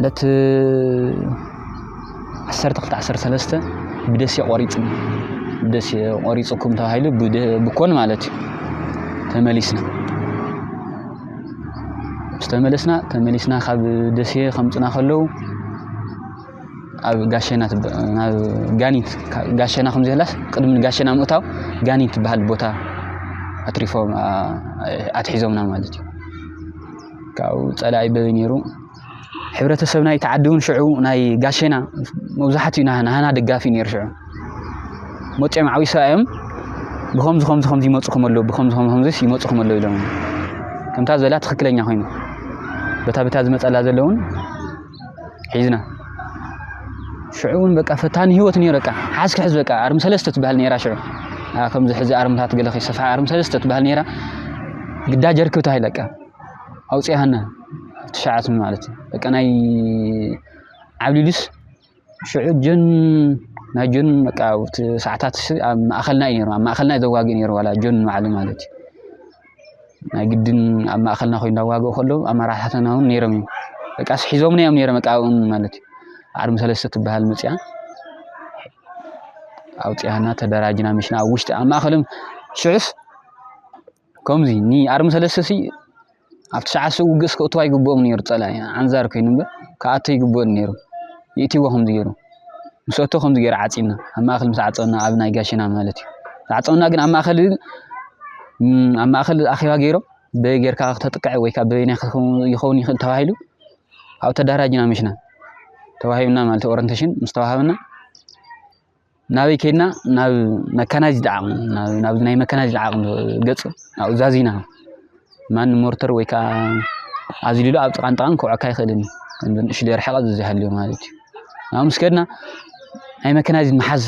ዕለት ዓሰርተ ክልተ ዓሰርተ ሰለስተ ብደሴ ቆሪፅና ደሴ ቆሪፅኩም ተባሂሉ ብኮን ማለት እዩ ተመሊስና ምስ ተመለስና ተመሊስና ካብ ደሴ ከምፅና ከለው ኣብ ጋሸና ናብ ጋኒት ጋሸና ከም ዘላስ ቅድሚ ጋሸና ምእታው ጋኒት ትበሃል ቦታ ኣትሪፎም ኣትሒዞምና ማለት እዩ ካብኡ ፀላኢ በበይ ነይሩ ሕብረተሰብ ናይ ተዓዲ እውን ሽዑ ናይ ጋሸና መብዛሕትኡ ናሃና ደጋፊ ነይሩ ሽዑ መፂኦም ዓዊሶ እዮም ብከምዚ ከምዚ ከምዚ ይመፅኹም ኣለዉ ብከምዚ ከምዚ ከምዚስ ይመፅኹም ኣለዉ ኢሎም ከምታ ዘላ ትክክለኛ ኮይኑ በታ በታ ዝመፀላ ዘለውን ሒዝና ሽዑ እውን በቃ ፈታኒ ህይወት ነይሩ በቃ ሓዝ ክሕዝ በቃ ኣርሚ ሰለስተ ትበሃል ነይራ ሽዑ ከምዚ ሕዚ ኣርምታት ገለ ከይሰፍሓ ኣርሚ ሰለስተ ትበሃል ነይራ ግዳ ጀርክብ ተባሂለ በቃ ኣውፅያሃና ትሽዓት ማለት እዩ በቃ ናይ ዓብሊሉስ ሽዑ ጆን ናይ ጆን በቃ ሰዓታት ኣብ ማእኸልና እዩ ነይሩ ኣብ ማእኸልና እዩ ዘዋግእ ነይሩ ዋላ ጆን ንባዕሉ ማለት እዩ ናይ ግድን ኣብ ማእኸልና ኮይኑ ዳዋግኡ ከለዉ ኣመራሓታትና እውን ነይሮም እዮም በቃስ ሒዞምና እዮም ነይሮም በቃ ኣብኦም ማለት እዩ ዓርሚ ሰለስተ ትበሃል መፅያ ኣውፅያና ተደራጅና ምሽና ኣብ ውሽጢ ኣብ ማእኸሎም ሽዑስ ከምዚ ንኣርሚ ሰለስተ ሲ ኣብ ትሽዓተ ሽዑ ውግእስ ክእትዋ ይግብኦም ነይሩ ፀላኢ ዓንዛር ኮይኑ እምበር ክኣቶ ይግብኦም ነይሩ ይእትይዎ ከምዚ ገይሩ ምስ ኣቶ ከምዚ ገይራ ዓጺና ኣብ ማእከል ምስ ዓጸና ኣብ ናይ ጋሽና ማለት እዩ ዝዓጸና ግን ኣብ ማእከል ኣብ ማእከል ኣኼባ ገይሮም በይ ጌርካ ክተጥቅዐ ወይ ካብ በይናይ ይኸውን ይኽእል ተባሂሉ ኣብ ተዳራጅና ምሽና ተዋሂብና ማለት ኦረንቴሽን ምስ ተዋሃብና ናበይ ከድና ናብ መካናይዝድ ዓቕሚ ናብዚ ናይ መካናይዝድ ዓቕሚ ገፅ ናብኡ ዛዚና ማንም ሞርተር ወይ ከዓ ኣዝሊሉ ኣብ ጥቓን ጥቓን ክውዕካ ኣይኽእልን እዩ ከምዚ ንእሽ ደርሐቐ ዝዚሃልዮ ማለት እዩ ናብ ምስ ከድና ናይ መካናይዝድ መሓዝ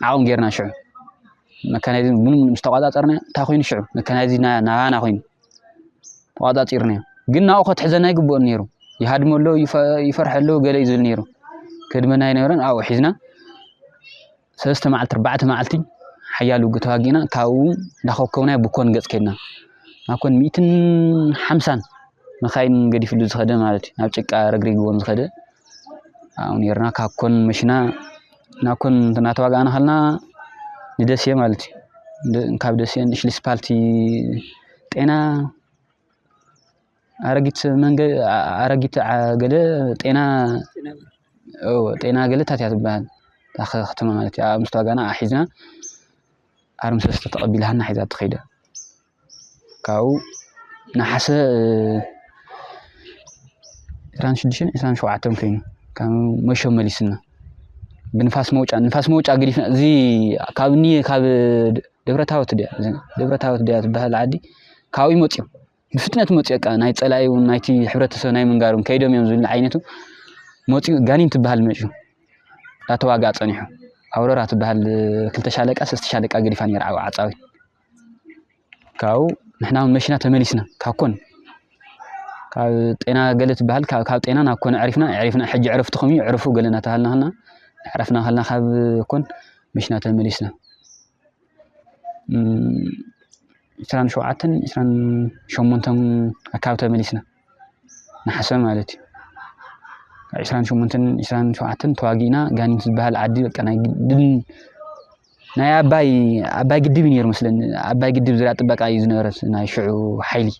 ዓቕሚ ጌርና ሽዑ መካናይዝድ ምንም ምስ ተቋፃፀርና እንታይ ኮይኑ ሽዑ መካናይዝድ ናባና ኮይኑ ተቋፃፂርናዮ ግን ናብኡ ከትሕዘና ይግብኦን ነይሩ ይሃድሞ ኣሎ ይፈርሐ ኣሎ ገለ እዩ ዝብል ነይሩ ከድመና ይነበረን ኣብኡ ሒዝና ሰለስተ መዓልቲ ኣርባዕተ መዓልቲ ሓያል ውግእ ተዋጊእና ካብኡ እንዳኾብኮብና ብ ኮን ገፅ ከድና ናብ ኮን ሚእትን ሓምሳን መኻይን ገዲፍሉ ዝኸደ ማለት እዩ ናብ ጭቃ ረግሪግዎም ዝኸደ ኣብኡ ኔርና ካብ ኮን መሽና ናብ ኮን እናተዋጋእና ከለና ንደሴ ማለት እዩ ካብ ደሴ ንሽልስፓልቲ ጤና ኣረጊት መንገ ኣረጊት ገለ ጤና ጤና ገለ ታት እያ ትበሃል ከተማ ማለት እያ ምስታ ጋና ኣሒዝና ኣርሚ ሰለስተ ተቐቢልሃና ሒዛ ትኸይደ ካብኡ ነሓሰ ዕስራን ሽዱሽተን ዕስራን ሸውዓተን ኮይኑ ካብ መሾ መሊስና ብንፋስ መውጫ ንፋስ መውጫ ግዲፍና እዚ ካብ እኒ ካብ ደብረታወት ድያ ደብረታወት ድያ ትበሃል ዓዲ ካብኡ ይመፅኡ ብፍጥነት መፅዮ እቃ ናይ ፀላኢ እውን ናይቲ ሕብረተሰብ ናይ ምንጋር እውን ከይዶም እዮም ዝብል ዓይነቱ መፅዩ ጋኒን ትበሃል መፅዩ ዳተዋግኣ ፀኒሑ ኣውረራ ትበሃል ክልተ ሻለቃ ሰስተ ሻለቃ ገዲፋ ነይራ ዓው ዓፃዊት ካብኡ ንሕና እውን መሽና ተመሊስና ካብ ኮን ካብ ጤና ገለ ትበሃል ካብ ጤና ናብ ኮን ዕሪፍና ዕሪፍና ሕጂ ዕረፍትኹም እዩ ዕረፉ ገለ እናተባሃልና ከለና ዕረፍና ከለና ካብ ኮን መሽና ተመሊስና ዕስራን ሸውዓተን ዕስራን ሸሞንተን ኣካባቢ ተመሊስና ንሓሰ ማለት እዩ ካብ ዕስራን ሸሞንተን ዕስራን ሸውዓተን ተዋጊእና ጋኒን ዝበሃል ዓዲ በቃ ናይ ግድን ናይ ኣባይ ኣባይ ግድብ እዩ ነይሩ መስለኒ ኣባይ ግድብ ዝርያ ጥበቃ እዩ ዝነበረ ናይ ሽዑ ሓይሊ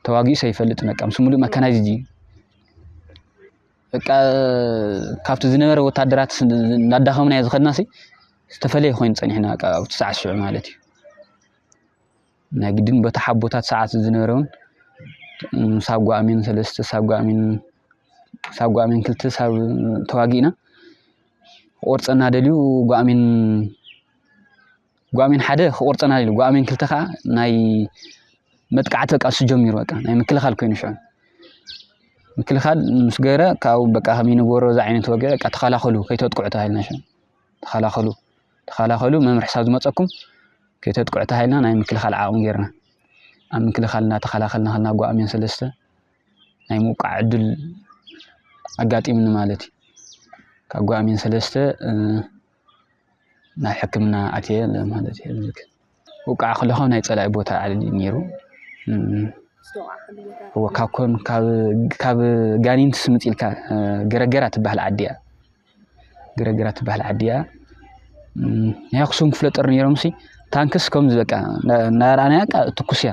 ተዋጊኡ ሰይፈልጥ በቃ ምስ ሙሉእ መካናይዝድ እዩ በቃ ካብቲ ዝነበረ ወታደራት እናዳኸምናዮ ዝኸድና ሲ ዝተፈለየ ኮይኑ ፀኒሕና በቃ ኣብቲ ሰዓት ሽዑ ማለት እዩ ናይ ግድን በቲ ሓቦታት ሰዓት ዝነበረ እውን ሳብ ጓኣሚን ሰለስተ ሳብ ጓኣሚን ሳብ ጓኣሚን ክልተ ሳብ ተዋጊእና ቆርፀና ደልዩ ጓኣሚን ጓሜን ሓደ ክቁርጸና ኢሉ ጓሜን ክልተ ከዓ ናይ መጥቃዕቲ በቃ እሱ ጀሚሩ በቃ ናይ ምክልኻል ኮይኑ ሽዑ ምክልኻል ምስ ገረ ካብኡ በቃ ከመይ ንገበሮ እዚ ዓይነት ወግዒ በቃ ተኸላኸሉ ከይተጥቅዑ ተባሂልና ሽዑ ተኸላኸሉ ተኸላኸሉ መምርሒ ክሳብ ዝመፀኩም ከይተጥቅዑ ተባሂልና ናይ ምክልኻል ዓቕሚ ጌርና ኣብ ምክልኻል እናተኸላኸልና ከልና ጓሜን ሰለስተ ናይ ምውቃዕ ዕድል ኣጋጢምኒ ማለት እዩ ካብ ጓሜን ሰለስተ ናብ ሕክምና ኣትየ ማለት እየ ልክ ውቃዕ ከለኹ ናይ ፀላኢ ቦታ ዓል ነይሩ እወ ካብ ኮን ካብ ጋኒን ትስምፅ ኢልካ ገረገራ ትበሃል ዓዲ እያ ገረገራ ትበሃል ዓዲ እያ ናይ ኣክሱም ክፍለ ጦር ነይሮም ሲ ታንክስ ከምዚ በቃ እናረኣናያ ትኩስ እያ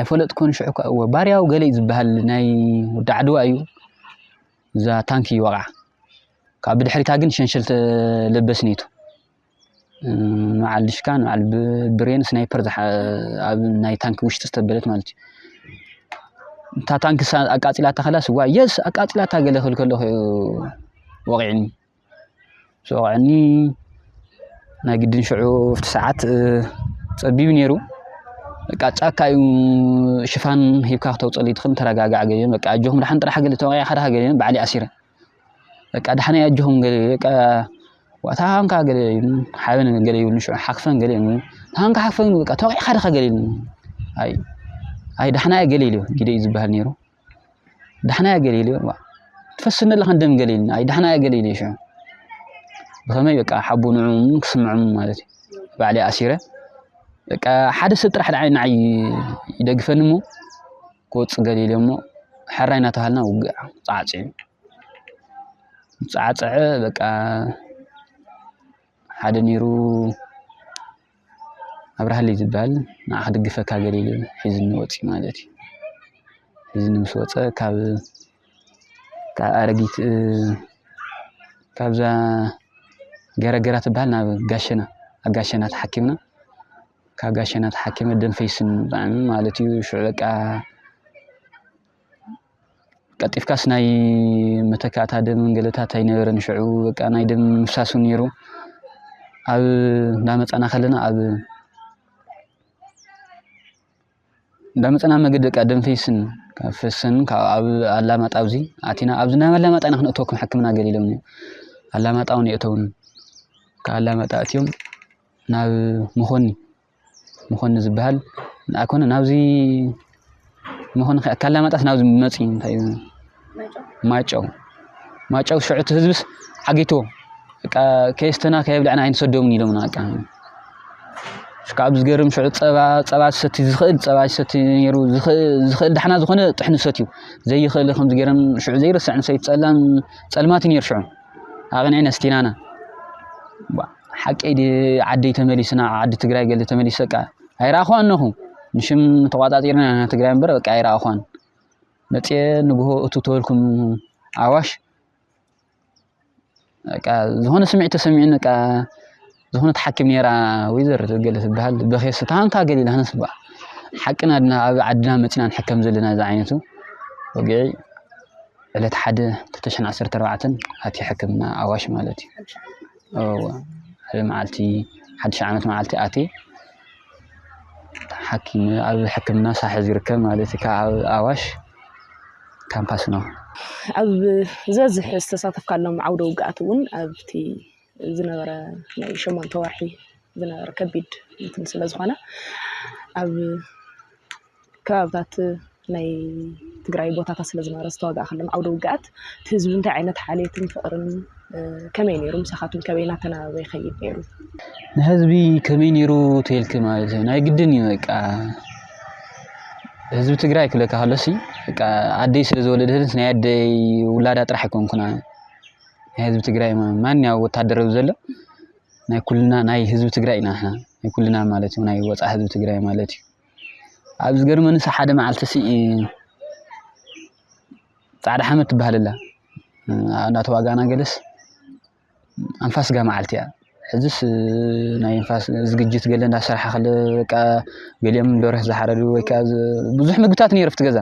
ኣይፈለጥኩን ሽዑ እኳ እወ ባርያው ገለ እዩ ዝበሃል ናይ ወዲ ዓድዋ እዩ እዛ ታንኪ እዩ ወቕዓ ካብ ብድሕሪታ ግን ሸንሸል ተለበስ ነይቱ ንበዓል ድሽካ ንበዓል ብሬን ስናይፐር ኣብ ናይ ታንኪ ውሽጢ ዝተበለት ማለት እዩ እታ ታንኪ ኣቃፂላታ ከላ ስዋ የስ ኣቃፂላታ ገለ ክብል ከለኹ ወቂዕኒ ምስ ወቕዐኒ ናይ ግድን ሽዑ ኣብቲ ሰዓት ፀቢብ ነይሩ በቃ ጫካ እዩ ሽፋን ሂብካ ክተውፅእሉ ይትኽእል ተረጋጋዕ ገሊኦም በቃ ኣጆኹም ድሓን ጥራሕ ገለ ተወቂዐ ከድሃ ገሊኦም በዓል ኣሲረ በቃ ድሓን እዩ ኣጆኹም ገለ በቃ ዋእታ ሃንካ ገለ ሓበን ገለ ይብሉ ሽዑ ሓክፈን ገለ ይብሉ ሃንካ ሓክፈን በቃ ተወቂዕካ ድኻ ገለ ይብሉ ኣይ ኣይ ድሓና እየ ገለ ኢሉ ግደ እዩ ዝበሃል ነይሩ ዳሕናያ ገሊሊ እባ ትፈስኒ ኣለኻ ደም ገሊሊ ናይ ዳሕናያ ገሊሊ ሽዑ ብኸመይ በቃ ሓቡ ንዕኡም ክስምዖም ማለት እዩ ባዕለይ ኣሲረ በቃ ሓደ ሰብ ጥራሕ ንዓይ ንዓይ ይደግፈኒ እሞ ክወፅእ ገሊሊ እሞ ሕራይ እናተባሃልና ውግእ ፃዕፅዑ ፃዕፀዐ በቃ ሓደ ነይሩ ኣብርሃለይ ዝባሃል ንዓ ክድግፈካ ገሊሉ ኢሉ ሒዙኒ ወፂኡ ማለት እዩ። ሒዙኒ ምስ ወፀ ካብ ካብ ኣረጊት ካብዛ ገረገራ ትባሃል ናብ ጋሸና ኣብ ጋሸና ተሓኪምና ካብ ጋሸና ተሓኪመ ደም ፈይሱኒ ብጣዕሚ ማለት እዩ ሽዑ በቃ ቀልጢፍካስ ናይ መተካእታ ደም ገለታት ኣይነበረን ሽዑ በቃ ናይ ደም ምፍሳስ እውን ነይሩ ኣብ እንዳመፃና ከለና ኣብ እንዳመፃና መገዲ በቃ ደም ፈይስን ካብ ፈሰን ካብ ኣብ ኣላማጣ ኣብዚ ኣቲና ኣብዚ ናብ ኣላማጣ ኢና ክንእተወኩም ሕክምና ገል ኢሎም ኣላማጣ እውን የእተውን ካብ ኣላማጣ እትዮም ናብ መኾኒ መኮንን ዝበሃል ኣይኮነ ናብዚ መኮንን ከ ካላማጣስ ናብዚ መፂ እንታይ እዩ ማይጨው ማይጨው ሽዑ እቲ ህዝብስ ዓጊቶ በቃ ከየስተና ከየብለዕና ኣይንሰዶምን ኢሎምና በቃ ካብ ዝገርም ሽዑ ፀባ ፀባ ዝሰቲ ዝኽእል ፀባ ዝሰቲ ነይሩ ዝኽእል ዳሕና ዝኾነ ጥሕኑ ሰትዩ ዘይኽእል ከም ዝገርም ሽዑ ዘይርስዕ ንሰይ ፀላም ፀልማት እዩ ነይሩ ሽዑ ኣቕኒዕና እስቲ ናና ሓቀይ ዓደይ ተመሊስና ዓዲ ትግራይ ገለ ተመሊስ በቃ ኣይረኣኹዋን ነኹ ንሽም ተቋፃፂርና ኢና ትግራይ እምበር በቃ ኣይረኣኹዋን መፅየ ንግሆ እቱ ተበልኩም ኣዋሽ በቃ ዝኾነ ስምዒት ተሰሚዑን በቃ ዝኾነት ሓኪም ነይራ ወይዘር ገለ ትበሃል በኼሱ ታንካ ገሊላ ነስባ ሓቅና ድና ኣብ ዓድና መፂና ንሕከም ዘለና እዚ ዓይነቱ ወግዒ ዕለት ሓደ ተተሽን ዓሰርተ ኣርባዕተን ኣቲ ሕክምና ኣዋሽ ማለት እዩ ሓደ መዓልቲ ሓድሽ ዓመት መዓልቲ ኣቲ ሓኪም ኣብ ሕክምና ሳሐ ዝርከብ ማለት እዩ ካብ ኣብ ኣዋሽ ካምፓስ ነው ኣብ ዘዝሕ ዝተሳተፍካሎም ዓውደ ውግኣት እውን ኣብቲ ዝነበረ ናይ ሸሞንተ ወርሒ ዝነበረ ከቢድ እንትን ስለ ዝኾነ ኣብ ከባብታት ናይ ትግራይ ቦታታት ስለ ዝነበረ ዝተዋጋእክሎም ዓውደ ውግኣት እቲ ህዝቢ እንታይ ዓይነት ሓልየትን ፍቕርን ከመይ ነይሩ ምሳኻትኩም ከመይ እናተናበበ ይኸይድ ነይሩ? ንህዝቢ ከመይ ነይሩ ተልኪ ማለት እዩ ናይ ግድን እዩ በቃ ህዝቢ ትግራይ ክብለካ ከሎሲ በቃ ኣደይ ስለ ዝወለደትስ ናይ ኣደይ ውላዳ ጥራሕ ኣይኮንኩና ናይ ህዝቢ ትግራይ ማንኛው ወታደር ኣብዚ ዘሎ ናይ ኩልና ናይ ህዝቢ ትግራይ ኢና ንሕና ናይ ኩልና ማለት እዩ ናይ ወፃእ ህዝቢ ትግራይ ማለት እዩ ኣብ ዝገርመኒ ሲ ሓደ መዓልቲ ሲ ፃዕዳ ሓመድ ትበሃል ኣላ እናተዋጋእና ገለስ ኣንፋስ ስጋ መዓልቲ እያ ሕዝስ ናይ ንፋስ ዝግጅት ገለ እንዳሰራሓ ከለ በቃ ገሊኦም ደርህ ዝሓረዱ ወይ ከዓ ብዙሕ ምግብታት ነይሩ ኣብቲ ገዛ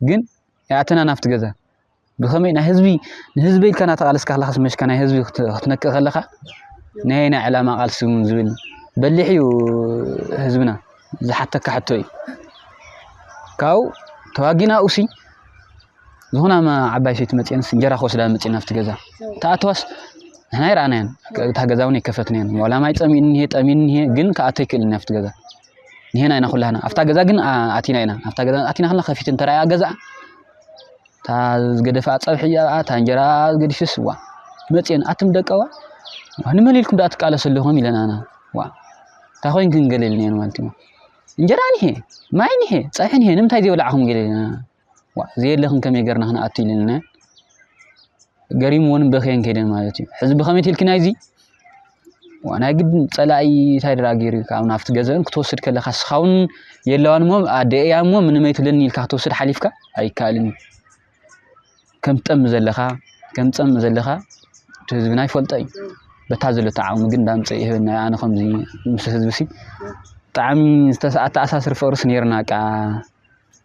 ግን ኣይኣተናን ኣብቲ ገዛ ብኸመይ ናይ ህዝቢ ንህዝቢ ኢልካ እናተቓለስካ ከለኻስ መሽካ ናይ ህዝቢ ክትነክእ ከለኻ ናይ ኣየናይ ዕላማ ቃልሲ እውን ዝብል በሊሕ እዩ ህዝብና ዝሓተካ ሕቶ እዩ ካብኡ ተዋጊና እውሲ ዝኾነ ዓባይ ሰይቲ መፅአንስ እንጀራ ክወስዳ መፅአን ኣብቲ ገዛ ተኣተዋስ ንሕና ይረኣናያን እታ ገዛ እውን ኣይከፈትናያን ዋላ ማይ ፀሚእኒ ጠሚእኒ ግን ከኣቶ ኣይክእልን ኣብቲ ገዛ ንሄና ኢና ኩላህና ኣብታ ገዛ ግን ኣቲና ኢና ኣብታ ገዛ ኣቲና ከለና ከፊት እንተረኣያ ገዛ እታ ዝገደፈኣ ፀብሒ እያ እታ እንጀራ ገዲፍስ ዋ መፅየን ኣትም ደቀዋ ንመን ኢልኩም ደኣ ትቃለሱ ኣለኹም ኢለናና ዋ እንታይ ኮይንክን ገለ ኢልናየን ማለት እዩ እንጀራ ንሄ ማይ ንሄ ፀብሒ ንሄ ንምንታይ ዘይበላዕኹም ገለ ኢለና ዋእ ዘየለኽን ከመይ ገርና ክንኣቱ ኢለና ገሪምዎን በኸየን ከይደን ማለት እዩ ሕዚ ብኸመይ ትልኪ ናይዚ ዋእ ናይ ግድን ፀላኢ እንታይ ድራ ገይሩ ካብ ናብቲ ገዘን ክትወስድ ከለካ ስኻውን የለዋን እሞ ኣደ እያ እሞ ምንም ኣይትብለኒ ኢልካ ክትወስድ ሓሊፍካ ኣይከኣልን እዩ ከም ትጠም ዘለኻ ከም ትፀም ዘለኻ እቲ ህዝብና ይፈልጦ እዩ በታ ዘለቶ ዓቕሚ ግን ዳምፀ ይህበና ኣነ ከምዚ ምስ ህዝቢ ሲ ብጣዕሚ ዝተኣሳስር ፍቅርስ ነይርና ቃ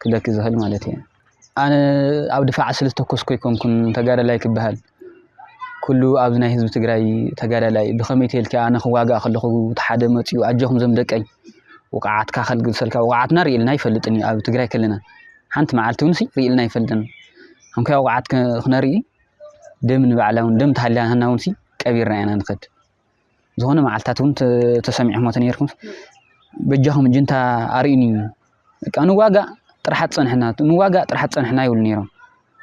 ክብለኪ ዝኽእል ማለት እየ። ኣነ ኣብ ድፋዕ ስለ ዝተኮስኩ ኣይኮንኩን ተጋዳላይ ክበሃል ኩሉ ኣብዚ ናይ ህዝቢ ትግራይ ተጋዳላይ ብኸመይ ተልኪ ኣነ ክዋጋእ ከለኹ ተሓደ መፅኡ ኣጀኹም ዘም ደቀይ ውቃዓትካ ከልግሰልካ ውቃዓትና ርእልና ይፈልጥን እዩ ኣብ ትግራይ ከለና ሓንቲ መዓልቲ እውን ርእልና ይፈልጥን እንኳ ውቃዓት ክነርኢ ደም ንባዕላ እውን ደም ተሃሊያና እውን ቀቢርና ኢና ንኸድ ዝኾነ መዓልትታት እውን ተሰሚዕኹም ተነይርኩም በጃኹም ጅንታ ኣርእዩኒ በቃ ንዋጋእ ጥራሓት ፀንሕና ንዋጋእ ጥራሓት ፀንሕና ይብሉ ነይሮም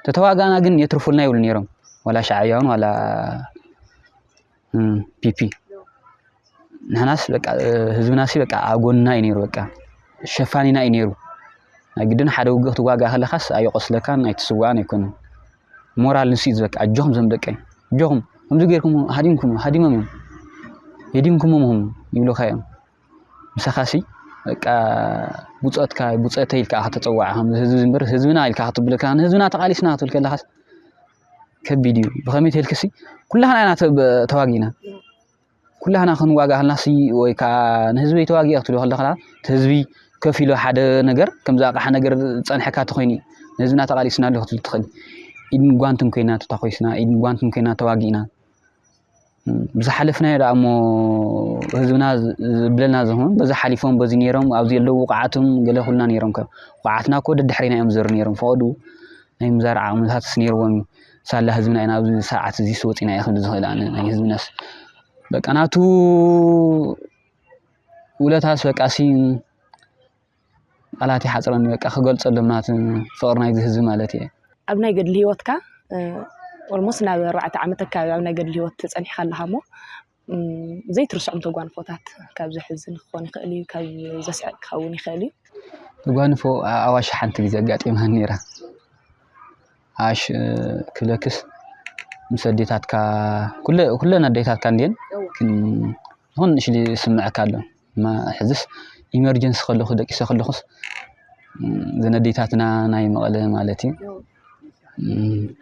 ተተዋጋእና ግን የትርፉልና ይብሉ ነይሮም ዋላ ሻዕብያውን ዋላ ፒፒ ንሕናስ በቃ ህዝብናሲ በቃ ኣብ ጎንና እዩ ነይሩ በቃ ሸፋኒና እዩ ነይሩ ናይ ግድን ሓደ ውግእ ክትዋጋእ ከለካስ ኣየቆስለካን ኣይትስዋእን ኣይኮነን ሞራል ንሱ እዩ ዝበቃ ኣጆኹም ዞም ደቀይ ኣጆኹም ከምዚ ጌርኩም ሃዲምኩም ሃዲሞም እዮም ሄዲምኩሞም ሁም ይብሉኻ እዮም ምሳኻሲ በቃ ብፆትካ ብፆተይ ኢልካ ከተፀዋዕ ከም ህዝቢ እምበር ህዝብና ኢልካ ክትብል ከለካ ንህዝብና ተቓሊስና ክትብል ከለኻስ ከቢድ እዩ ብኸመይ ተልክሲ ኩላህና ኢና ተዋጊእና ኩላህና ክንዋጋ ከለና ወይ ከዓ ንህዝቢ ተዋጊ ክትብል ከለካ እቲ ህዝቢ ከፍ ኢሉ ሓደ ነገር ከምዚ ኣቕሓ ነገር ዝፀንሐካ ተኮይኑ እዩ ንህዝብና ተቃሊስና ኣሎ ክትብል ትክእል ኢድን ጓንትን ኮይና ተታኮስና ኢድን ጓንትን ኮይና ተዋጊእና ብዝሓለፍናዮ ደኣ እሞ ህዝብና ዝብለና ዝኸውን በዚ ሓሊፎም በዚ ነይሮም ኣብዚ ኣለዉ ውቃዓቶም ገለ ኩልና ነይሮም ከም ውቃዓትና እኮ ደድሕሪና እዮም ዝዘሩ ነይሮም ፈቐዱ ናይ ምዛር ዓቕምታትስ ነይርዎም እዩ ሳላ ህዝብና ኢና ኣብዚ ሰዓት እዚ ስወፂና እየ ክንዲ ዝኽእል ኣነ ናይ ህዝብናስ በቃ ናቱ ውለታስ በቃ ሲ ቃላት ይሓፅረኒ በቃ ክገልፀሎም ናት ፍቕሪ ናይዚ ህዝቢ ማለት እየ ኣብ ናይ ገድሊ ህይወትካ ኦልሞስት ናብ ኣርባዕተ ዓመት ኣካባቢ ኣብ ናይ ገድሊ ህይወት ፀኒሕካ ኣለካ እሞ ዘይትርስዖም ተጓንፎታት ካብ ዘሕዝን ክኾን ይኽእል እዩ፣ ካብ ዘስዕቅ ክኸውን ይኽእል እዩ። ተጓንፎ ኣዋሽ ሓንቲ ግዜ ኣጋጢማኒ ነይራ። ኣዋሽ ክብለክስ ምስ ኣዴታትካ ኩለን ኣዴታትካ እንድየን ይኹን ንእሽተይ ዝስምዐካ ኣሎ። እማ ሕዝስ ኢመርጀንሲ ከለኩ ደቂሰ ከለኩስ እዘን ኣዴታትና ናይ መቐለ ማለት እዩ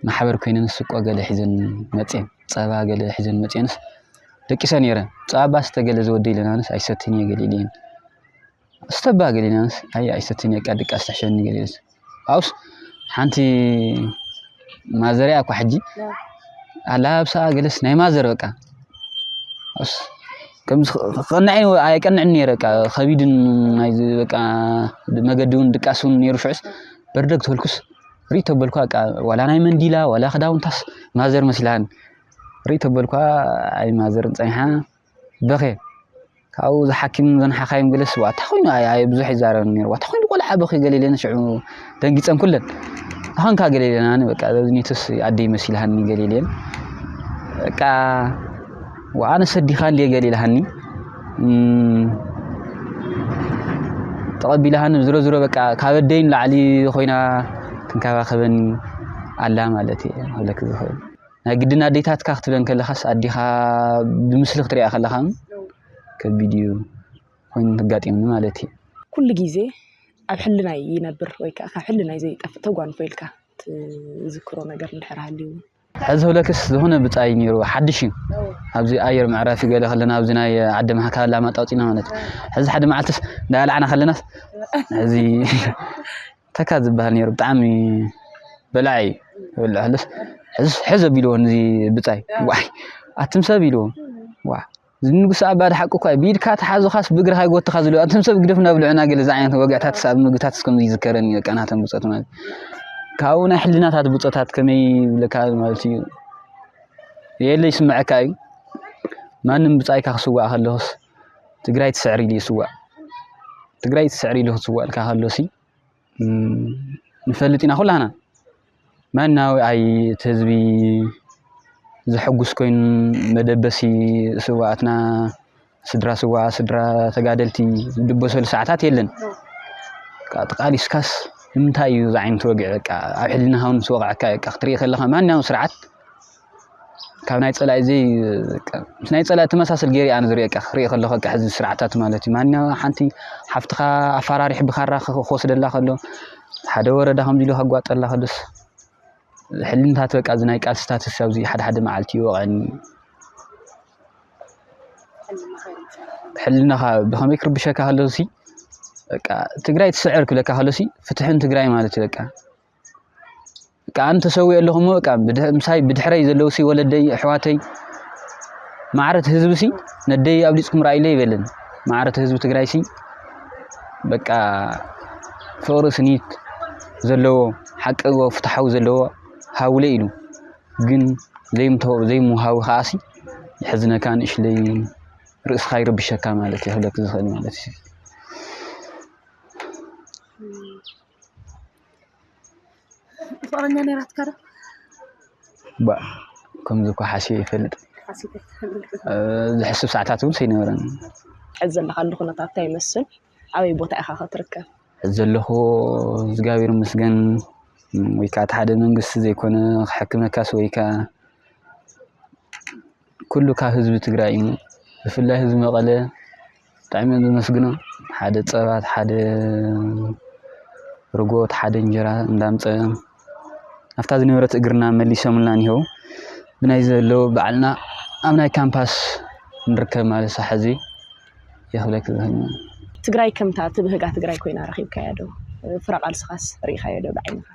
ማሕበር ኮይነን ስቆ ገለ ሒዘን መፅን ፀባ ገለ ሒዘን መፅንስ ደቂሰ ነይረ ፀባ ስተ ገለ ዝወደ ኢለናንስ ኣይሰትን እየ ገለ ኢለን ስተባ ገለ ኢለናንስ ኣይ ኣይሰትን እየ ቃ ድቃስ ትሕሸኒ ገለ ኢለንስ ኣውስ ሓንቲ ማዘር እያ እኮ ሕጂ ኣላብሳ ገለስ ናይ ማዘር በቃ ኣውስ ከምዚ ቀናዒ ኣይቀንዕን ነይረ በቃ ከቢድን ናይ በቃ መገዲ እውን ድቃስ እውን ነይሩ ሽዑስ በርደግ ተበልኩስ ርኢቶ በልኳ በቃ ዋላ ናይ መንዲላ ዋላ ክዳውንታስ ማዘር መስላን ርኢቶ በልኳ ኣይ ማዘር ፀኒሓ በኽየ። ካብኡ እዛ ሓኪም እዘን ሓኻይም ገለ ስዋ እንታይ ኮይኑ ኣየ ብዙሕ ይዛረበኒ ነይሩ ዋታ ኮይኑ ቆልዓ በኺ ገለ ኢለን ሽዑ ደንጊፀን ኩለን ኣኾንካ ገለ ኢለን ኣነ በቃ ኒቱስ ኣደይ መሲልሃኒ ገለ ኢለን በቃ ወኣነ ሰዲኻ እንዲየ ገለ ኢልሃኒ ተቐቢልሃኒ ዝሮ ዝሮ በቃ ካብ ኣደይ ንላዕሊ ኮይና ትንከባኸበኒ ኣላ ማለት እየ ክብለኪ ዝኽእል ናይ ግድን ኣዴታትካ ክትብለን ከለኻስ ኣዴኻ ብምስሊ ክትሪኣ ከለኻ ከቢድ እዩ ኮይኑ ተጋጢሙኒ ማለት እዩ ኩሉ ግዜ ኣብ ሕልናይ ይነብር ወይ ከዓ ካብ ሕልናይ ዘይጠፍእ ተጓንፎ ኢልካ ትዝክሮ ነገር እንድሕር ሃልዩ ሕዚ ህብለክስ ዝኾነ ብፃይ ነይሩ ሓድሽ እዩ ኣብዚ ኣየር መዕረፊ ገለ ከለና ኣብዚ ናይ ዓዲ ማሓካ ላማጣ ወፂና ማለት እዩ ሕዚ ሓደ መዓልትስ እንዳልዓና ከለናስ እዚ ተካ ዝበሃል ነይሩ ብጣዕሚ በላዒ እዩ ይበልዕ ከሎስ ሕዝ ኣቢልዎ ነዚ ብፃይ ዋይ ኣቱም ሰብ ኢልዎ ዋ እዚ ንጉሰ ኣባ ሓቂ እኳ እዩ ብኢድካ ተሓዙኻስ ብእግርኻ ይጎትኻ ዝብሉ ኣቱም ሰብ ግደፍ እናብልዑና ገለ እዚ ዓይነት ወግዕታት ኣብ ምግብታት እስከም ይዝከረኒ በቃ ናቶም ብፆት ማለት ካብኡ ናይ ሕልናታት ብፆታት ከመይ ይብለካ ማለት እዩ የለ ይስምዐካ እዩ ማንም ብፃይካ ክስዋእ ከለኹስ ትግራይ ትስዕር ኢሉ ይስዋእ ትግራይ ትስዕር ኢሉ ክስዋእልካ ከሎሲ ንፈልጥ ኢና ኩላና መናዊ ኣይ እቲ ህዝቢ ዘሐጉስ ኮይኑ መደበሲ ስዋኣትና ስድራ ስዋ ስድራ ተጋደልቲ ዝድበሰሉ ሰዓታት የለን ተቃሊስካስ ንምንታይ እዩ ዝዓይነቱ ወግዒ በቃ ኣብ ሕልናኻ እውን ምስ ወቕዐካ በቃ ክትሪኢ ከለኻ ማንኛውም ስርዓት ካብ ናይ ጸላኢ ዘይ ምስ ናይ ጸላኢ ተመሳሰል ገይረ ኣነ ዝርእየካ ክርኢ ከለኹ በቃ ሕዚ ስርዓታት ማለት እዩ ማንኛ ሓንቲ ሓፍትኻ ኣፈራሪሕ ብካራ ክወስደላ ከሎ ሓደ ወረዳ ከምዚ ኢሉ ከጓጠላ ከሎስ ሕልምታት በቃ እዚ ናይ ቃልስታት ኣብዚ ሓደ ሓደ መዓልቲ ይወቐኒ ሕልናኻ ብኸመይ ክርብሸካ ከሎሲ በቃ ትግራይ ትስዕር ክብለካ ከሎሲ ፍትሕን ትግራይ ማለት እዩ በቃ እቃ ኣን ተሰዊኦ ኣለኹ እሞ እቃ ምሳይ ብድሕረይ ዘለዉ ሲ ወለደይ ኣሕዋተይ ማዕረት ህዝቢ ሲ ነደይ ኣብሊፅኩም ራእይለ ይበልን ማዕረት ህዝቢ ትግራይ ሲ በቃ ፍቅሪ ስኒት ዘለዎ ሓቂ ፍትሓዊ ዘለዎ ሃውለ ኢሉ ግን ዘይምሃዊ ከዓ ሲ የሕዝነካ ንእሽለይ ርእስኻ ይርብሸካ ማለት እዩ ክብለክ ዝኽእል ማለት እዩ ፍቅረኛ ነይራትካ ዶ? ባእ ከምዚ እኳ ሓስየ ይፈልጥ ዝሕስብ ሰዓታት እውን ሰይነበረኒ። ሕዚ ዘለኻሉ ኩነታት እንታይ ይመስል? ኣበይ ቦታ ኢኻ ከትርከብ? ሕዚ ዘለኹ እግዚኣብሔር ይመስገን ወይ ከዓ እቲ ሓደ መንግስቲ ዘይኮነ ክሕክመካስ ወይ ከዓ ኩሉ ካብ ህዝቢ ትግራይ እዩ ብፍላይ ህዝቢ መቐለ ብጣዕሚ እዮም ዘመስግኑ ሓደ ፀባ ሓደ ርጎ ሓደ እንጀራ እንዳምፀ ኣብታ ዝነበረት እግርና መሊሶምልና እኒሀው ብናይ ዘለው ባዕልና ኣብ ናይ ካምፓስ ንርከብ ማለት ሳሕ እዚ የኽለክ ዝህል ትግራይ ከምታ ትብህጋ ትግራይ ኮይና ረኺብካያ ዶ ፍረ ቃልስኻስ ርኢኻዮ ዶ ብዓይንኻ?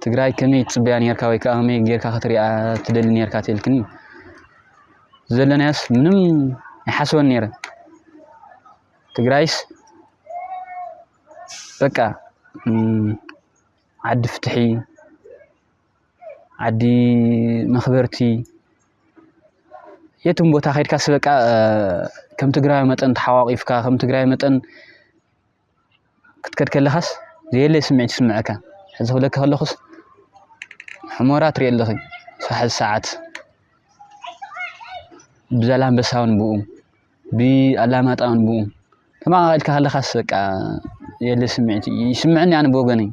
ትግራይ ከመይ ትጽበያ ኔርካ ወይ ከኣ ከመይ ጌርካ ክትሪኣ ትደሊ ኔርካ ተልክኒ ዘለናዮስ ምንም ይሓስበን ኔረ ትግራይስ በቃ ዓዲ ፍትሒ ዓዲ መኽበርቲ የትም ቦታ ከድካስ በቃ ከም ትግራይ መጠን ተሓዋቒፍካ ከም ትግራይ መጠን ክትከድ ከለኻስ ዘየለ ስምዒት ይስምዐካ። ሕዚ ክብለኪ ከለኹስ ሕሞራ ትሪኢ ኣለኺ ሕዚ ሰዓት ብዛላምበሳ እውን ብኡ ብኣላማጣ እውን ብኡ ተመቃቂልካ ከለኻስ በቃ የለ ስምዒት ይስምዐኒ ኣነ ብወገነይ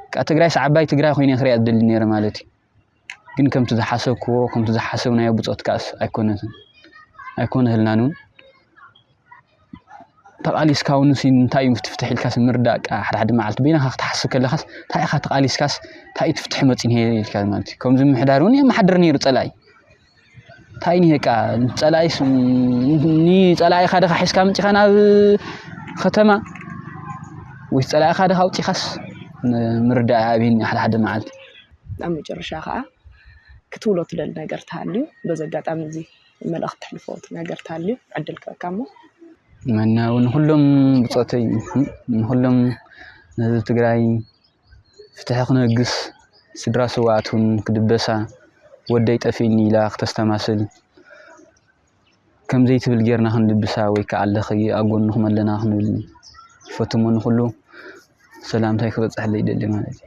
በቃ ትግራይስ ዓባይ ትግራይ ኮይነ ክሪኣ ዝደሊ ነይረ ማለት እዩ። ግን ከምቲ ዝሓሰብክዎ ከምቲ ዝሓሰብናዮ ብፆት ከኣስ ኣይኮነትን ኣይኮነህልናን እውን ተቓሊስካ እውን እንታይ እዩ ፍትፍትሕ ኢልካስ ምርዳእ ከዓ ሓደ ሓደ መዓልቲ በይናኻ ክትሓስብ ከለኻስ እንታይ ኢኻ ተቓሊስካስ እንታይ እዩ ትፍትሕ መፂን ኢልካ ማለት እዩ ከምዚ ምሕዳር እውን የመሓድር ነይሩ ፀላኢ ታይ እኒሀ እቃ ፀላኢስ ንፀላኢኻ ድኻ ሒዝካ መፂኻ ናብ ከተማ ወይስ ፀላኢኻ ድኻ ኣውፂኻስ ምርዳእ ኣብይኒ ሓደ ሓደ መዓልቲ ኣብ መጨረሻ ከዓ ክትብሎ ትደሊ ነገር ተሃልዩ በዚ ኣጋጣሚ እዚ መልእኽቲ ትሕልፎ ነገር ተሃልዩ ዕድል ክበካ እሞ መናዊ ንኩሎም ብፆተይ ንኩሎም ንህዝቢ ትግራይ ፍትሒ ክነግስ ስድራ ስውኣት እውን ክድበሳ ወደይ ጠፊእኒ ኢላ ክተስተማስል ከምዘይትብል ጌርና ክንድብሳ ወይ ከዓ ኣለኺ ኣብ ጎንኹም ኣለና ክንብል ፈትሞ ንኹሉ ሰላምታይ ክበፅሐለይ ይደሊ ማለት እዩ።